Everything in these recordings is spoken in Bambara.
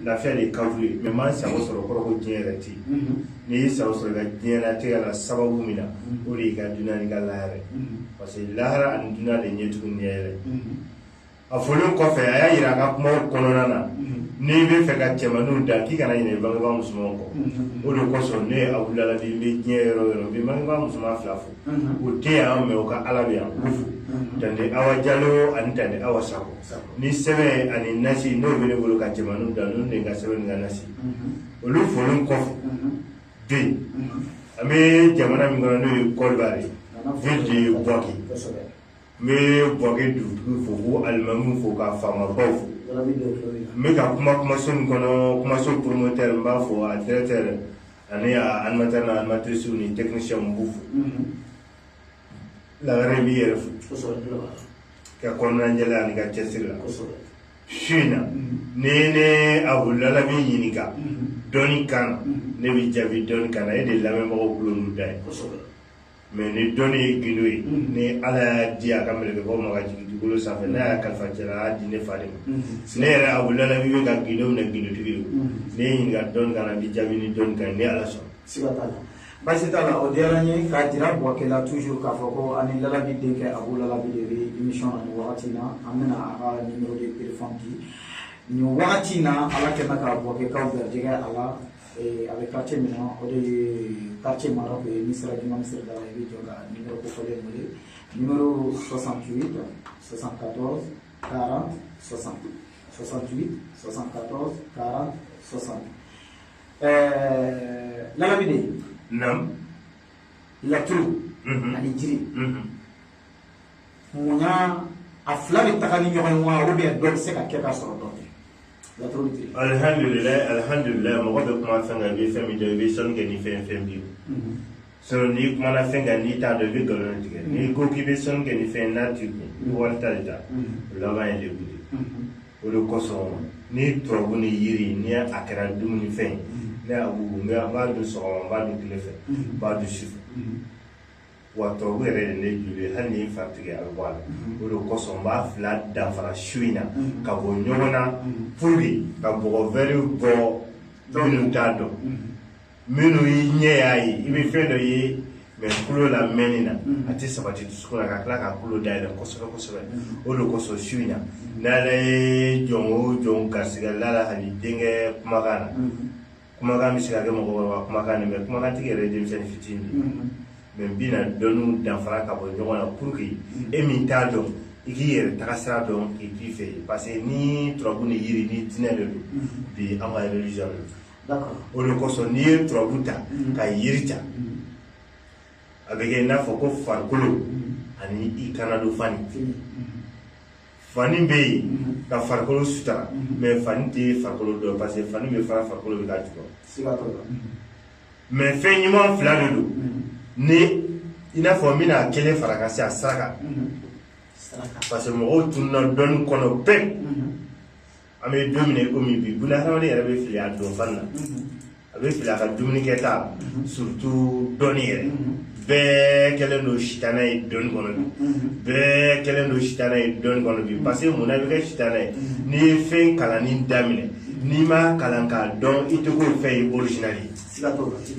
lafiya de ka ye mɛ maa sago sɔrɔ kɔrɔ ko diɲɛ yɛrɛ tɛ yen n'i y'i sago sɔrɔ i ka diɲɛlatigɛ la sababu min na o de y'i ka duniya ni ka lahara parce que lahara ani duniya de ɲɛ tugun ɲɛ yɛrɛ a fɔlen kɔfɛ a y'a jira a ka kumaw kɔnɔna na n'i bɛ fɛ ka cɛmaninw da k'i kana ɲinɛ i bangebaa musomanw kɔ o de kosɔn ne a wulila bi n bɛ diɲɛ yɔrɔ yɔrɔ n bɛ bangebaa musoman fila fo o tɛ yan mɛ o ka ala bɛ yan tanti awa jalo ani tanti awa sako ni sɛbɛn ani nasi n'o bɛ ne bolo ka cɛmanninw da n'olu de ka sɛbɛn ni ka nasi olu folen kɔfɛ bɛ yen an bɛ jamana min kɔnɔ n'o ye kɔdiwari ye ville de buwake n bɛ buwake dugutigi fo k'u alimami fo ka faamabaw fo n bɛ ka kuma kumaso min kɔnɔ kumaso promoteur n b'a fo a directeur ani a animateur n'a animatrice ni technicien n b'u fo lagare b'i yɛrɛ fo ka kɔnɔnajɛ la ani ka cɛsiri la su in na ni ne abu lalabi ɲininka dɔnni kan na ne bɛ jaabi dɔnni kan na e de lamɛnbagaw kulo n'u da ye mɛ ni dɔnni ye gindo ye ni ala y'a di a ka mɛlɛkɛbaw ma ka jigin dugukolo sanfɛ n'a y'a kalifa cɛ la a y'a di ne fa de ma ne yɛrɛ abu lalabi bɛ ka gindo minɛ gindotigi ye ne ye ɲininka dɔnni kan na n bɛ jaabi ni dɔnni kan ye ni ala sɔnna Baasi t'a la o diyara n ye k'a jira Buwake la toujours k'a fɔ ko an ni Lalabi denkɛ Abu Lalabi de bɛ émission na nin wagati in na an bɛna a ka numéro de téléphone di nin wagati in na Ala kɛ mɛ ka Buwakekaw garijɛgɛ a la ee a bɛ quartier min na o de ye quartier Maroc ye n'i sera juma misiri da la i bɛ jɔ ka numéro kofɔlen in wele numéro 68 74 40 60 68 74 40 60 Ɛɛ Lalabi den naamu laturu ani jiri mun a fila bɛ taga ni ɲɔgɔn wa olu bɛ dɔ bɛ se ka kɛ ka sɔrɔ dɔ alihamdulila alihamdulila mɔgɔ bɛ kuma fɛn kan i bɛ fɛn min dɔn i bɛ sɔnni kɛ ni fɛn fɛn b'i sinon n'i kumana fɛn kan n'i t'a dɔn i bɛ nkalon tigɛ n'i ko k'i bɛ sɔnni kɛ ni fɛn n'a t'i kun i bɛ wali ta de ta o laban ye degun de o de kosɔn ni turabu ni yiri ni a kɛra dumunifɛn ye ne y'a wugu n b'a dun sɔgɔma n b'a dun tile fɛ n b'a dun su fɛ wa turabu yɛrɛ de ne joli ye hali ni n fari tigɛ a bɛ bɔ a la o de kosɔn n b'a fila danfara su in na ka bɔ ɲɔgɔn na pour que ka mɔgɔ wɛrɛw bɔ minnu t'a dɔn minnu y'i ɲɛ y'a ye i bɛ fɛn dɔ ye mɛ tulo la mɛnni na mm-hmm. a tɛ sabati dusukun na ka tila k'a tulo dayɛlɛ kosɛbɛ kosɛbɛ mm-hmm. o de kosɔn su in na n'ala ye jɔn o jɔn garisigɛ lalabi denkɛ kumakan na mm-hmm. kumakan bɛ se ka kɛ mɔgɔkɔrɔba kumakan de mɛ kumakan tigi yɛrɛ ye denmisɛnnin fitinin de mɛ n bɛna dɔnniw danfara ka bɔ ɲɔgɔn na pour que e min t'a dɔn i k'i yɛrɛ taga sira dɔn k'i t'i fɛ yen parce que ni turabu ni yiri ni diinɛ de don bi an ka religion de don o de kosɔn n'i ye turabu ta ka yiri ta a bɛ kɛ i n'a fɔ ko farikolo ani i kan na don fani fani bɛ yen ka farikolo sutura mɛ fani tɛ farikolo dɔ parce que fani bɛ fara farikolo bɛ ka jukɔrɔ mɛ fɛn ɲuman fila de don ni i n'a fɔ n bɛna kelen fara ka se a saraka parce que mɔgɔw tununna dɔnni kɔnɔ pewu an bɛ don min ko min bi buna hadamaden yɛrɛ bɛ fili a donfani na a bɛ fili a ka dumuni kɛta surtout dɔnni yɛrɛ bɛɛ kɛlen don sitanɛ ye dɔnni kɔnɔ bi bɛɛ kɛlen don sitanɛ ye dɔnni kɔnɔ bi parce que mun na i bɛ kɛ sitanɛ ye n'i ye fɛn kalanni daminɛ n'i ma kalan k'a dɔn i tɛ k'o fɛn ye original ye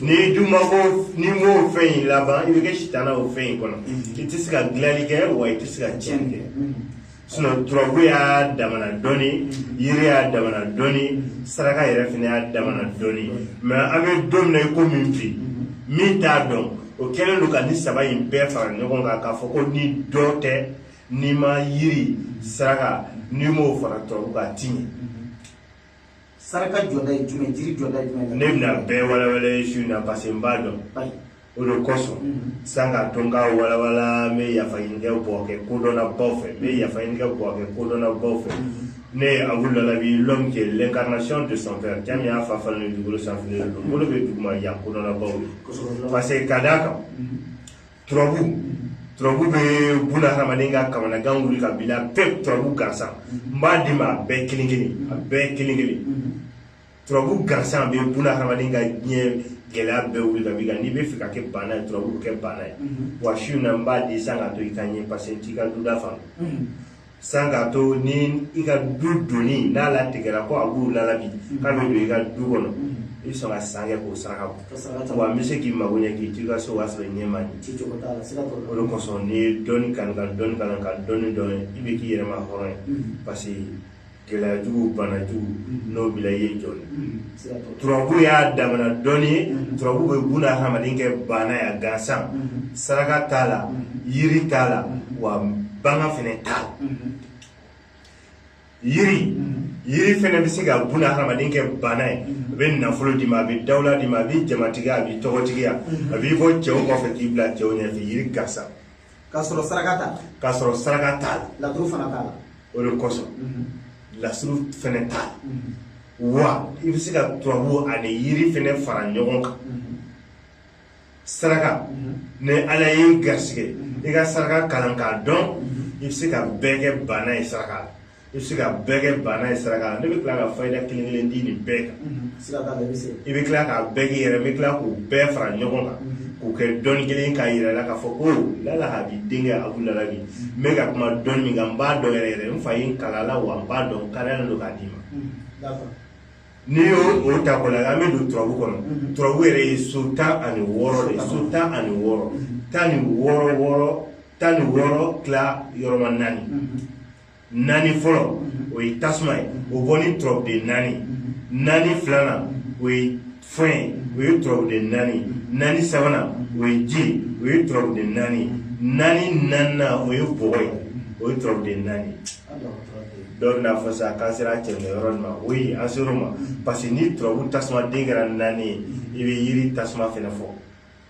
n'i dun ma ko n'i m'o fɛn in laban i bɛ kɛ sitanɛ o fɛn in kɔnɔ i tɛ se ka dilanni kɛ wa i tɛ se ka tiɲɛni kɛ sinɔn turabu y'a damana dɔnni yiri y'a damana dɔnni saraka yɛrɛ fana y'a damana dɔnni mɛ an bɛ don min na i ko min bi min t'a dɔn o kɛlen don ka nin saba in bɛɛ fara ɲɔgɔn kan k'a fɔ ko ni dɔ tɛ n'i ma yiri saraka n'i m'o fara turabu kan a ti ɲɛ saraka jɔda ye jumɛn jiri jɔda ye jumɛn ne bɛna bɛɛ walawala ye su in na parce que n b'a dɔn o de kosɔn mm-hmm. san ka to n ka walawala n bɛ yafa ɲini ka bɔ n ka kodɔnnabaw fɛ n bɛ yafa ɲini ka bɔ n ka kodɔnnabaw fɛ mm-hmm. ne ye abu lalabi l'homme qui est l'incarnation de son père cɛ min y'a fa falen ni dugukolo sanfɛ de don bolo bɛ duguma yan kodɔnnabaw ye parce que ka d'a kan mm-hmm. turabu turabu bɛ buna hadamaden ka kamanagan wuli ka bila pewu turabu gansan n b'a d'i ma a bɛɛ kelen kelen a bɛɛ kelen kelen turabu gansan bɛ buna hadamaden ka diɲɛ gɛlɛya bɛɛ wuli ka b'i kan n'i bɛ fɛ ka kɛ baana ye turabu b'i kɛ baana ye wa su in na n b'a di san ka to i ka ɲɛ paseke n t'i ka duda faamu san k'a to ni i ka du doni n'a latigɛra ko abu lalabi k'a bɛ don i ka du kɔnɔ i bɛ sɔn ka san kɛ k'o saraka bɔ wa n bɛ se k'i mago ɲɛ k'i t'i ka so k'a sɔrɔ i ɲɛ ma n ye o de kosɔn n'i ye dɔnni kanu ka dɔnni kalan ka dɔnni dɔn i bɛ k'i yɛrɛ ma hɔrɔn ye paseke gɛlɛyajugu banajugu n'o bila ye jɔn turabu y'a damana dɔnni ye turabu bɛ buna hadamaden kɛ baana ye gansan saraka t'a la yiri t'a la wa banga fɛnɛ t'a la yiri yiri fɛnɛ bɛ se ka buna hadamaden kɛ baana ye a bɛ nafolo d'i ma a bɛ dawula d'i ma a b'i jamatigiya a b'i tɔgɔtigiya a b'i bɔ cɛw kɔfɛ k'i bila cɛw ɲɛfɛ yiri gansan k'a sɔrɔ saraka t'a la k'a sɔrɔ saraka t'a la laturu fana t'a la o de kosɔn lasuru fɛnɛ t'a la wa i bɛ se ka turabu ani yiri fɛnɛ fara ɲɔgɔn kan saraka ni ala y'i garisɛgɛ i ka saraka kalan k'a dɔn i bɛ se ka bɛɛ kɛ baana ye saraka la i bɛ se ka bɛɛ kɛ baana ye saraka la ne bɛ tila ka fayida kelen kelen di nin bɛɛ kan i bɛ tila k'a bɛɛ k'i yɛrɛ bɛ tila k'u bɛɛ fara ɲɔgɔn kan k'u kɛ dɔnni kelen k'a yɛrɛ la k'a fɔ ko lala a b'i denkɛ a b'u lala bi n bɛ ka kuma dɔnni min kan n b'a dɔn yɛrɛ yɛrɛ n fa ye n kalan a la wa n b'a dɔn n kalaya don k'a d'i ma n'i y'o o ta kɔ la an bɛ don turabu kɔnɔ turabu yɛrɛ ye so tan ani wɔɔrɔ de so tan ani wɔɔrɔ tan ni wɔɔrɔ wɔɔrɔ tan ni wɔɔrɔ tila yɔrɔma naani naani fɔlɔ o ye tasuma ye o bɔ ni turabuden naani naani filanan o ye fiɲɛ ye o ye turabuden naani naani sabanan o ye ji ye o ye turabuden naani naani naaninan o ye bɔgɔ ye o ye turabuden naani dɔw bɛna fɔ sa k'an sera cɛminɛ yɔrɔ nin ma o ye an ser'o ma parce que ni turabu tasuma den kɛra naani ye i bɛ yiri tasuma fɛnɛ fɔ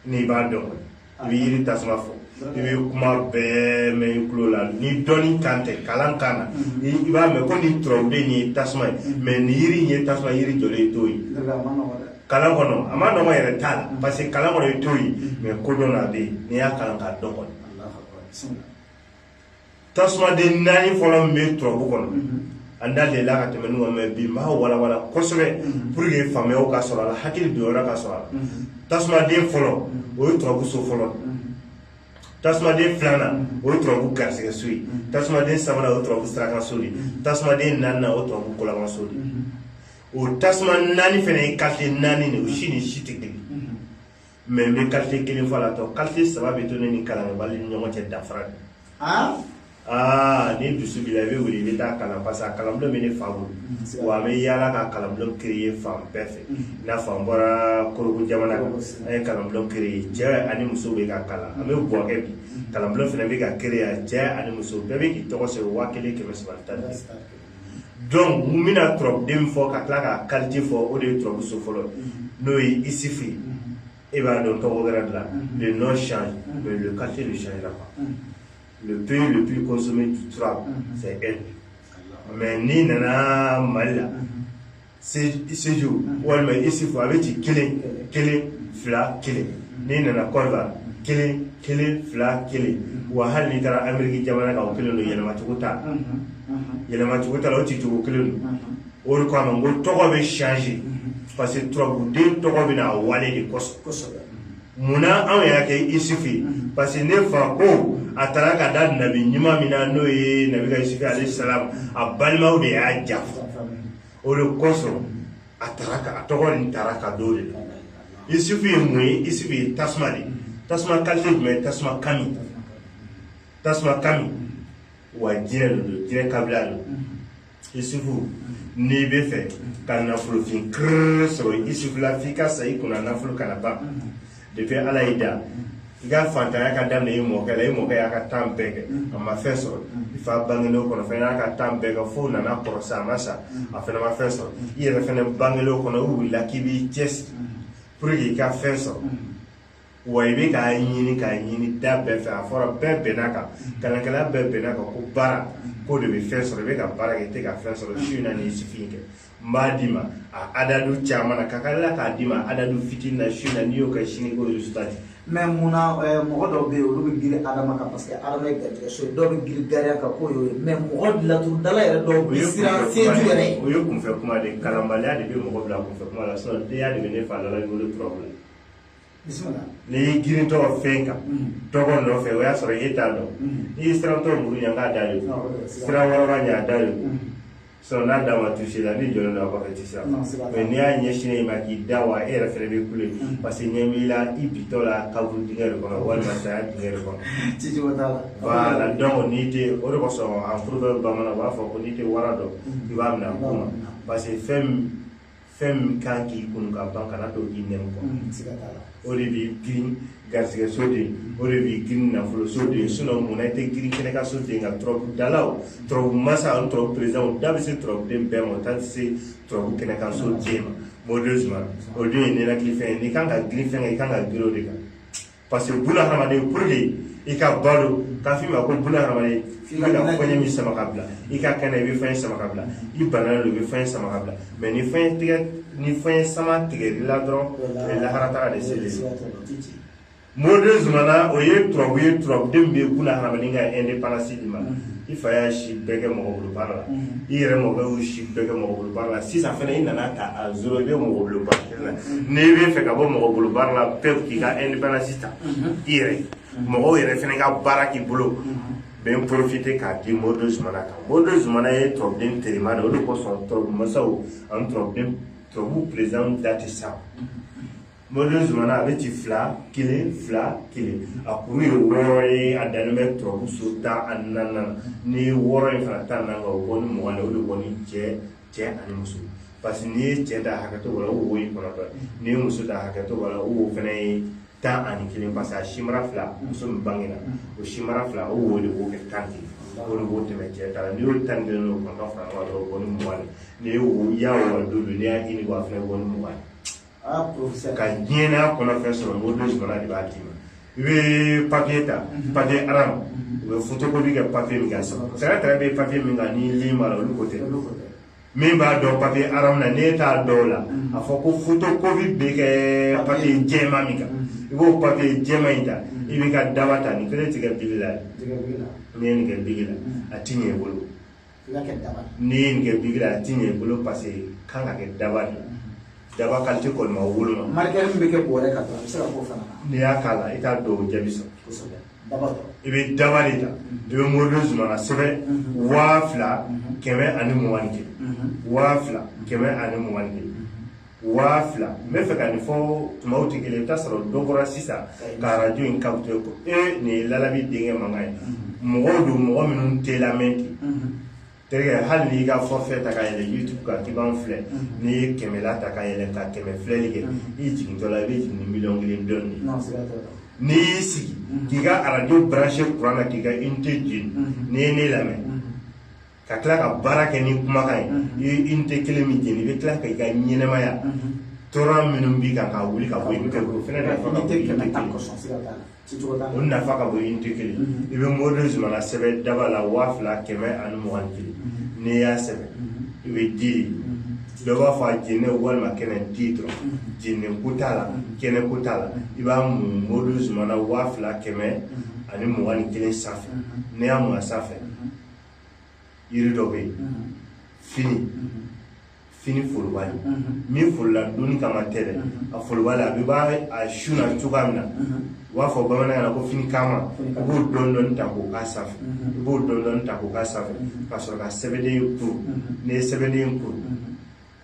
n'i b'a dɔn i bɛ yiri tasuma fɔ i bɛ kuma bɛɛ mɛn i tulo la ni dɔnni kan tɛ kalan kan na i b'a mɛn ko nin turabuden ye tasuma ye mɛ nin yiri in ye tasuma yiri jɔlen ye t'o ye kalan kɔnɔ a ma nɔgɔ yɛrɛ t'a la parce que kalan kɔnɔ i t'o ye mɛ kodɔn na a bɛ yen n'i y'a kalan k'a dɔn kɔni tasumaden naani fɔlɔ min bɛ turabu kɔnɔ an da delila ka tɛmɛ n'u mɛ bi n b'a walawala kosɛbɛ pour que faamuya ka sɔrɔ a la hakili donyɔrɔ ka sɔrɔ a la tasumaden fɔlɔ o ye turabu so fɔlɔ tasumaden filanan o ye turabu garisigɛ so ye tasumaden sabanan o ye turabu saraka so de tasumaden naaninan o ye turabu kolaban so de o tasuma naani fana ye kalite naani de o si ni si tɛ kelen mɛ n bɛ kalite kelen fɔ a la tɔ kalite saba bɛ to ne ni kalanbali ni ɲɔgɔn cɛ danfara de aa ah, ni dusu b'i la i bɛ wuli i bɛ taa kalan parce que a kalanbulon bɛ ne fa bolo mm-hmm. wa a bɛ yaala ka kalanbulon créer fan bɛɛ fɛ i mm-hmm. n'a fɔ an bɔra korogo jamana kan an ye kalanbulon créer cɛ ani muso bɛ ka kalan an bɛ buwakɛ bi mm-hmm. kalanbulon fana bɛ ka créer cɛ ani muso bɛɛ bɛ k'i tɔgɔ sɛbɛn waa kelen kɛmɛ saba tan donc n bɛna turabuden min fɔ ka tila k'a kalite fɔ o de ye turabuso fɔlɔ n'o ye isufu ye e b'a dɔn tɔgɔ wɛrɛ de la le nom change mais le qualité ne changera pas le pays le plus consommé du turabu c'est le mali n'i nana mali la seju walima isufu a bɛ ci kelen kelen fila kelen n'i nana kɔrɔba kelen kelen fila kelen wa hali n'i taara ameriki jamana kan o kelen don yɛlɛmacogo t'a yɛlɛmacogo t'a la o ci cogo kelen don o de kama n ko tɔgɔ bɛ change parce que turabuden tɔgɔ bɛ na a wale de kosɔn munna anw y'a kɛ isufu ye parce que ne fa ko a taara ka da nabi ɲuman min na n'o ye nabila isufu alayhi salam a balimaw de y'a janfa o de kosɔn a taara ka a tɔgɔ nin taara ka d'o de la isufu ye mun ye isufu ye tasuma de tasuma kalite jumɛn ye tasuma kami tasuma kami wa jinɛ de don jinɛ kabila don isufu n'i bɛ fɛ ka nafolofin kiriri sɔrɔ isufu la f'i ka sa i kunna nafolo kana ban depuis ala y'i da i ka fantanya ka daminɛ i mɔkɛ la i mɔkɛ y'a ka tan bɛɛ kɛ a ma fɛn sɔrɔ i fa bangelen o kɔnɔ fɛnɛ y'a ka tan bɛɛ kɛ f'o nana kɔrɔ sa a ma sa a fɛnɛ ma fɛn sɔrɔ i yɛrɛ fɛnɛ bangelen o kɔnɔ i wulila k'i b'i cɛsiri pour que i ka fɛn sɔrɔ wa i bɛ k'a ɲini k'a ɲini da bɛɛ fɛ a fɔra bɛɛ bɛnna kan kalankɛla bɛɛ bɛnna kan ko baara k'o de bɛ fɛn sɔrɔ i bɛ ka baara kɛ i tɛ ka fɛn sɔrɔ su in na n'i ye isufu kɛ n b'a d'i ma a adadu caman na ka tila k'a d'i ma adadu fitini na su na n'i y'o kɛ sini ko résultat di n ma mun na mɔgɔ dɔw bɛ yen olu bɛ girin adama kan parce que adama ye garijɛgɛ so ye dɔw bɛ girin gariya kan k'o y'o ye mɛ mɔgɔ laturudala yɛrɛ dɔw bɛ siran seju yɛrɛ ye o ye kunfɛ kuma de ye kalanbaliya de bɛ mɔgɔ bila kunfɛ kuma la sinon denya de bɛ ne fa lala wolo turabu la n'i y'i girintɔ fɛn kan tɔgɔ nɔfɛ o y'a sɔrɔ e t'a dɔn n'i y'i sirantɔ muru ɲɛ k'a da ye sira wɔrɔba ɲɛ a da ye sɔrɔ n'a da ma tusi la ni jɔlen don a kɔfɛ tɛ se a ma n'i y'a ɲɛsin e ma k'i da wa e yɛrɛ fɛnɛ bɛ kule parce que ɲɛ b'i la i bitɔ la kaburu dingɛ de kɔnɔ walima saya dingɛ de kɔnɔ ci cogo t'a la voilà donc n'i tɛ o de kosɔn a furu dɔ bamananw b'a fɔ ko n'i tɛ wara dɔn i b'a minɛ a ku ma parce que fɛn fɛn min kan k'i kunko ban kana to k'i nɛn kɔ o de b'i girin garisɛgɛ so de o de b'i girin nafolo so de sinon munna i tɛ girin kɛnɛ ka so de nka turabudalaw turabu masa ani turabu président bɛ se turabuden bɛɛ ma o ta tɛ se turabu kɛnɛ ka so den ma mɔdenw suma o dun ye ninakilifɛn ye n'i kan ka girin fɛn kan i kan ka girin o de kan parce que buna hadamaden pour que i ka balo k'a f'i ma ko buna hadamaden i bɛ ka fɛn min sama ka bila i ka kɛnɛ i bɛ fɛn sama ka bila i banalen don i bɛ fɛn sama ka bila mais ni fɛn tigɛ ni fɛn sama tigɛli la dɔrɔn o ye lahara taa de selen ye modi zumana o ye turabu ye turabuden bɛ buna hadamaden ka indépendance di ma i fa y'a si bɛɛ kɛ mɔgɔ bolo baara la i yɛrɛ mɔkɛ y'u si bɛɛ kɛ mɔgɔ bolo baara la sisan fana i nana taa a sɔrɔ i bɛ mɔgɔ bolo baara n'i bɛ fɛ ka bɔ mɔgɔ bolo baara la pewu k'i ka indépendance ta i yɛrɛ mɔgɔw yɛrɛ fana ka baara k'i bolo bɛ n porofite k'a di modi zumana kan modi zumana ye turabuden terima de o de kosɔn turabu masaw ani turabuden turabu perezanw da tɛ sa modi zumana a bɛ ci fila kelen fila kelen a kuru ye wɔɔrɔ ye a dannen bɛ turabu so tan ani naani ni wɔɔrɔ in fara tan naani kan o bɔ ni mugan de o de bɔ ni cɛ cɛ ani muso parce que n'i ye cɛ da hakɛ to la o wo ye kɔnɔntɔn n'i ye muso da hakɛ to la o wo fana ye tan ani kelen parce que a sinbara fila muso min bangena o sinbara fila o wo de b'o kɛ tan kelen o de b'o tɛmɛ cɛ ta la n'i y'o tan kelen o kɔnɔntɔn fara ɲɔgɔn kan o bɔ ni mugan ye n'i y'o y'a wɔri don n'i y'a ɲini o fana bɔ ni mugan ye ka diɲɛnaya kɔnɔ fɛn sɔrɔ o don sɔrɔla de b'a d'i ma i bɛ papiye ta papiye aram u bɛ fotokopi kɛ papiye min kan sɛnɛ tɛrɛ bɛ papiye min kan ni lin b'a la olu ko tɛ min b'a dɔn papiye aram na n'e t'a dɔn la a fɔ ko fotokopi bɛ kɛ papiye jɛma min kan i b'o papiye jɛma in ta i b'i ka daba ta nin kelen tɛ kɛ bigi la n'i ye nin kɛ bigi la a ti ɲɛ i bolo n'i ye nin kɛ bigi la a ti ɲɛ i bolo paseke kan ka kɛ daba de daba kalite kɔni ma woloma marikɛ min bɛ kɛ bɔrɛ kan dɔrɔn i bɛ se ka k'o fana n'i y'a k'a la i t'a dɔn o jaabi sɔrɔ i bɛ daba de ta i bɛ modi zumana sɛbɛn waa fila kɛmɛ ani mugan ni kelen waa fila kɛmɛ ani mugan ni kelen waa fila n bɛ fɛ ka nin fɔ tumaw tɛ kelen i bɛ taa sɔrɔ dɔ bɔra sisan ka arajo in kapte ko e nin ye lalabi denkɛ mankan ye mɔgɔw don mɔgɔ minnu tɛ lamɛn ten terikɛ hali n'i ka fɔfɛ ta ka yɛlɛ youtube kan k'i b'an filɛ n'i ye kɛmɛla ta ka yɛlɛ ka kɛmɛ filɛli kɛ i jigintɔ la i bɛ jigin ni miliyɔn kelen dɔnni de n'i y'i sigi k'i ka arajo branche kuran na k'i ka unité jeni n'i ye ne lamɛn ka tila ka baara kɛ ni kumakan ye unité kelen min jeni i bɛ tila ka i ka ɲɛnamaya tɔɔrɔ minnu b'i kan ka wuli ka bɔ i tɛ o fɛnɛ nafa ka bon i tɛ kelen o nafa ka bon i tɛ kelen i bɛ modi zumana sɛbɛn daba la waa fila kɛmɛ ani mugan ni kelen n'i y'a sɛbɛn i bɛ di dɔ b'a fɔ a jeninen walima kɛnɛ di dɔrɔn jeninen ko t'a la kɛnɛ ko t'a la i b'a mun modi zumana waa fila kɛmɛ ani mugan ni kelen sanfɛ n'i y'a mun a sanfɛ yiri dɔ bɛ yen fini fini forobali min forola dunni kama tɛ dɛ a forobali a bɛ bɔ a sun na cogoya min na u b'a fɔ bamanankan na ko fini kama i b'o dɔɔni dɔɔni ta k'o k'a sanfɛ i b'o dɔɔni dɔɔni ta k'o k'a sanfɛ ka sɔrɔ ka sɛbɛnden kuru n'i ye sɛbɛnden kuru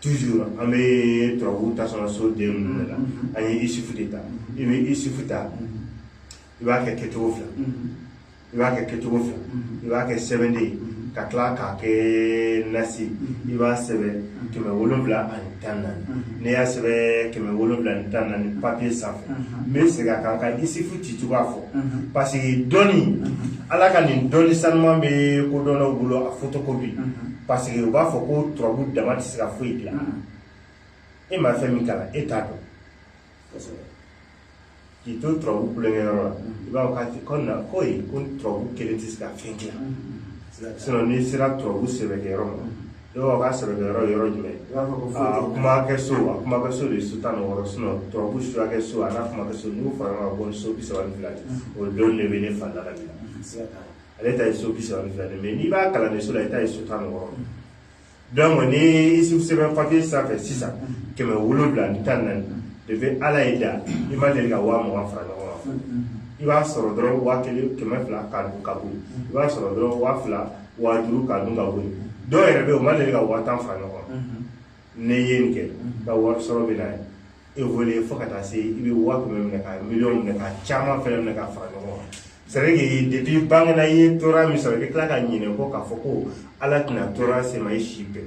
toujours an bɛ turabu ta sɔrɔ so den ninnu de la an ye isufu de ta i bɛ isufu ta i b'a kɛ kɛcogo fila i b'a kɛ kɛcogo fila i b'a kɛ sɛbɛnden ye ka tila k'a kɛ nasi i b'a sɛbɛn kɛmɛ wolonwula ani tan naani n'i y'a sɛbɛn kɛmɛ wolonwula ani tan naani papiye sanfɛ n bɛ segin a kan ka isifu ci cogoya fɔ paseke dɔnni ala ka nin dɔnni sanuman bɛ kodɔnnaw bolo a fotokopi parce que u b'a fɔ ko turabu dama tɛ se ka foyi dilan mm. e ma fɛn min kalan e t'a dɔn k'i to turabu tulonkɛyɔrɔ la mm. i b'a fɔ k'a tɛ ko na ko ye ko turabu kelen tɛ se ka fɛn dilan mm. sinon n'i sera turabu sɛbɛkɛyɔrɔ ma i b'a fɔ k'a sɛbɛkɛyɔrɔ yɔrɔ jumɛn a kuma kɛ so a kuma kɛ so de ye so tan ni wɔɔrɔ sinon turabu suya kɛ so a n'a kuma kɛ so n'u fara ɲɔgɔn kan ko so bi saba ni fila o dɔn de bɛ ne fa lalabi la ale ta ye so bi saba ni fila de ye n'i bɛ kalanden so la i ta ye so tan ni wɔɔrɔ donc ni i sɛbɛn papiye sanfɛ sisan kɛmɛ wolonwula ni tan naani de bɛ ala ye da i ma deli ka waa mugan fara ɲɔgɔn kan i b'a sɔrɔ dɔrɔn waa kelen kɛmɛ fila ka dun ka bɔ yen i b'a sɔrɔ dɔrɔn waa fila waa duuru ka dun ka bɔ yen dɔw yɛrɛ bɛ yen u ma deli ka waa tan fara ɲɔgɔn kan n'i ye nin kɛ i ka wari sɔrɔ bɛ na ye évolué fo ka taa se i bɛ waa kɛmɛ minɛ ka miliyɔn minɛ ka caman fɛnɛ minɛ ka fara ɲɔgɔn kan c'est vrai que depuis bangena i ye tɔɔrɔya min sɔrɔ i bɛ tila ka ɲinɛ kɔ k'a fɔ ko ala tɛna tɔɔrɔya se ma i si bɛɛ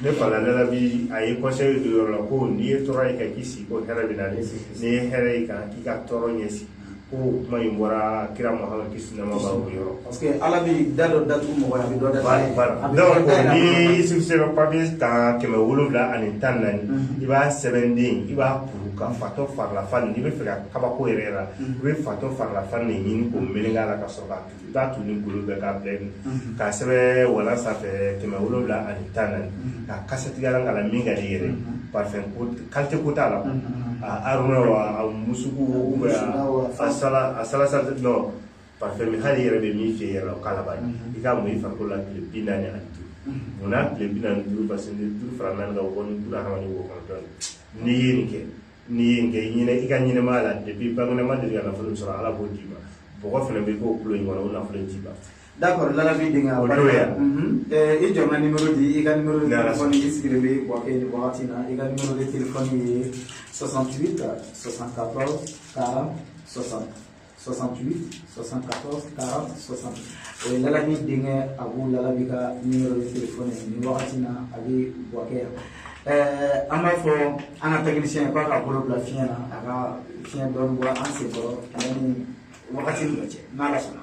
ne fa lalabi a ye conseil d'o yɔrɔ la ko n'i ye tɔɔrɔya ye i ka k'i sigi ko hɛrɛ bɛ na n'i ye hɛrɛ ye i kan k'i ka tɔɔrɔ ɲɛsigi ko kuma in bɔra kira Muhamadu kisi nɛɛma b'a ye o yɔrɔ parce que Ala bɛ da dɔ datugu mɔgɔ ye a bɛ dɔ datugu a ye voilà a bɛ donc fɛn da ni yɛlɛma. Yusufu sɛbɛn papier kan kɛmɛ wolonwula ani tan ni naani i b'a sɛbɛnden i b'a kuru ka fatɔ farilafan n'i b'a fɛ ka kabako yɛrɛ yɛrɛ la i bɛ fatɔ farilafan de ɲini k'o meleke a la ka sɔrɔ k'a taa tun ni golo bɛɛ ka bɛɛ ka sɛbɛn walaa sanfɛ kɛmɛ wolonwula ani tan naani k'a kasatigɛ ka la min ka di yɛrɛ pafɛn kante ko t'a la aruna wa musu bɛ a sala sa dɔn pafɛn min hali yɛrɛ bɛ min fɛ yɛrɛ o k'a la i k'a mun i fari la tile bi naani ani duuru mun na tile bi naani duuru parce que duuru fara naani kan wɔɔrɔ duuru ha o kɔnɔntɔn n'i ye nin kɛ n'i ye nin kɛ i ɲinɛ i ka ɲɛnɛmaya la depuis bangena i ma deli ka nafolo sɔrɔ ala b'o d'i ma bɔgɔ fana bɛ k'o kulo in kɔnɔ o nafolo in tɛ ban d'accord lalabi denkɛ o dɔ ye i jɔ n ka numéro di i ka numéro de téléphone i sigilen bɛ buwake nin wagati in na i ka numéro de téléphone ye 68 74 40 60 68 74 40 60 o ye lalabi denkɛ abu lalabi ka nimero de telefɔni ye nin wagati na a bɛ bouaké yan an b'a fɔ an ka technicien k'a ka bolo bila fiɲɛ na a ka fiɲɛ dɔɔni bɔ an senkɔrɔ yanni wagati min cɛ n'ala sɔnna